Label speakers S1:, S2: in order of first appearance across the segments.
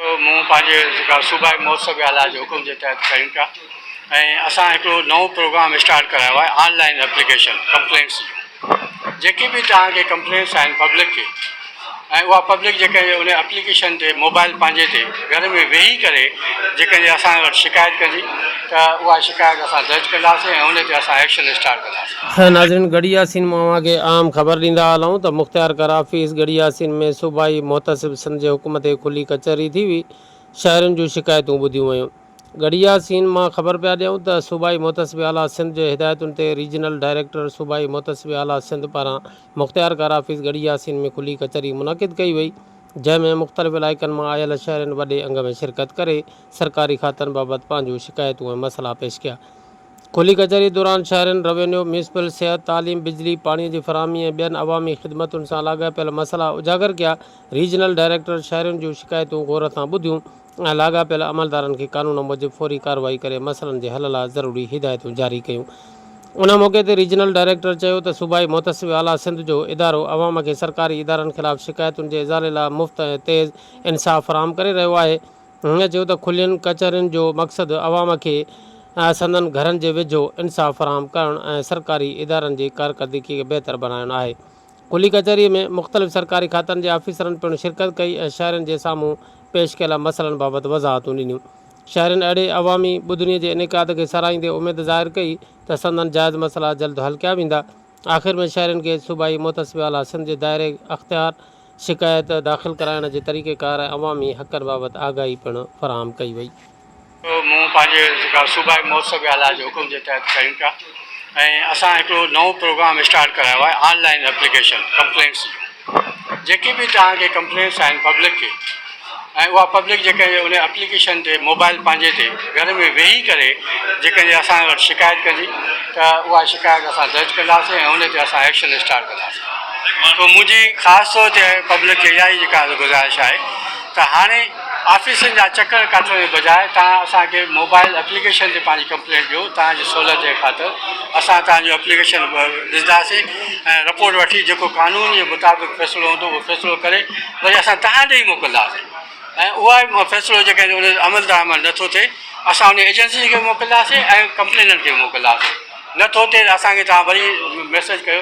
S1: جو مون پنهنجي جيڪا صوبائي مهوتسو جي آلا جي حڪم جي تحت ڪيون پيا ۽ اسان هڪڙو نئون پروگرام اسٽارٽ ڪرايو آهي آن لائين ايپليڪيشن ڪمپلينٽس جون جيڪي به توهان کي ڪمپلينٽس آهن پبلڪ کي ۽ اها پبلڪ جيڪا ان ايپليڪيشن تي موبائل پنهنجي تي گهر ۾ ويهي ڪري جيڪا اسان وٽ شڪايت ڪندي ته اها شڪايت اسان درج ڪنداسين ۽ ان تي اسان ايڪشن اسٽارٽ ڪنداسين خير ناظرين ڳڙهي ياسين
S2: مون اوهان کي اهم خبر ڏيندا هلون ته مختيار ڪر آفيس ڳڙهي ياسين ۾ صوبائي محتسب سنڌ جي حڪم تي کلي ڪچهري ٿي هئي شهرين جون شڪايتون ٻڌيون ويون ڳڙهي ياسين مان خبر پيا ڏيون ته صوبائي محتسب اعليٰ سنڌ جي هدايتن تي ريجنل ڊائريڪٽر صوبائي محتسب اعليٰ سنڌ پاران مختيار ڪر آفيس ڳڙهي ياسين ۾ کلي ڪچهري منعقد ڪئي وئي جنهن ۾ مختلف علائقن مان آيل شهرين وڏي انگ ۾ شرڪت ڪري سرڪاري کاتن بابت پنهنجون شڪايتون ۽ مسئلا پيش ڪيا کلي ڪچهري دوران شهرين روينيو، ميونسپل، صحت، تعليم، بجلي، پاڻي جي فراهمي ۽ ٻين عوامي خدمتن سان لاڳاپيل مسئلا اجاگر ڪيا، ريجنل ڊائريڪٽر شهرين جون شڪايتون غور سان ٻڌيون ۽ لاڳاپيل عملدارن کي قانون موجب فوري ڪارروائي ڪري مسئلن جي حل لاء ضروري هدايتون جاري ڪيون. ان موقعي تي ريجنل ڊائريڪٽر چيو ته صوبائي محتسب اعليٰ سنڌ جو ادارو عوام کي سرڪاري ادارن خلاف شڪايتن جي ازالي لاء مفت ۽ تيز انصاف فراهم ڪري رهيو آهي، هن چيو ته کلين ڪچهرين جو مقصد عوام کي سندن گهرن جي ويجهو انصاف فراهم ڪرڻ ۽ سرڪاري ادارن جي ڪارڪردگي کي بهتر بڻائڻ آهي. کلي ڪچهري ۾ مختلف سرڪاري کاتن جي آفيسرن پڻ شرڪت ڪئي ۽ شهرين جي سامهون پيش ڪيل مسئلن بابت وضاحتون ڏنيون. شهرين اهڙي عوامي ٻڌڻي جي انعقاد کي ساراهيندي اميد ظاهر ڪئي ته سندن جائز مسئلا جلد حل ڪيا ويندا. آخر ۾ شهرين کي صوبائي محتسب اعليٰ سنڌ جي دائري اختيار شڪايت داخل ڪرائڻ جي طريقيڪار ۽ عوامي حقن بابت آگاهي پڻ فراهم ڪئي وئي. مون
S1: پنهنجي ذڪر صوبائي محتسب اعليٰ جي حڪم جي تحت ڪيون پيا ۽ اسان هڪڙو نئون پروگرام اسٽارٽ ڪرايو آهي آن لائين ايپليڪيشن ڪمپلينٽس جون. جيڪي به توهان کي ڪمپلينس آهن پبلڪ کي ۽ اها پبلڪ جيڪڏهن ان اپليڪيشن تي موبائل پنهنجي تي گهر ۾ ويهي ڪري جيڪڏهن اسان وٽ شڪايت ڪندي ته اها شڪايت اسان درج ڪنداسين ۽ ان تي اسان ايڪشن اسٽارٽ ڪنداسين. سو منهنجي خاص طور تي پبلڪ کي اها ئي جيڪا گذارش آهي ته هاڻي آفيسن جا چڪر ڪاٽڻ جي بجاء توهان اسان کي موبائيل اپليڪيشن تي پنهنجي ڪمپلينٽ ڏيو، توهان جي سهولت جي خاطر اسان توهان جون اپليڪيشن ڏسنداسين ۽ رپورٽ وٺي جيڪو قانون جي مطابق فيصلو هوندو اهو فيصلو ڪري وري اسان توهان ڏي ئي موڪلنداسين ۽ اها ئي فيصلو جيڪڏهن ان تي عمل درآمد نه ٿو ٿئي اسان انهي ايجنسين کي موڪلنداسين ۽ ڪمپليننٽ کي به موڪلنداسين نه ٿو ٿئي ته اسان کي توهان وري ميسيج ڪيو.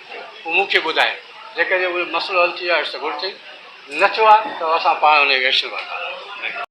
S1: هو مون کي ٻڌائين. جيڪڏهن اهو مسئلو حل ٿي ويو آهي ته گهرجي، نه ٿيو آهي ته اسان پاڻ ان کي ويجهه ڪنداسين.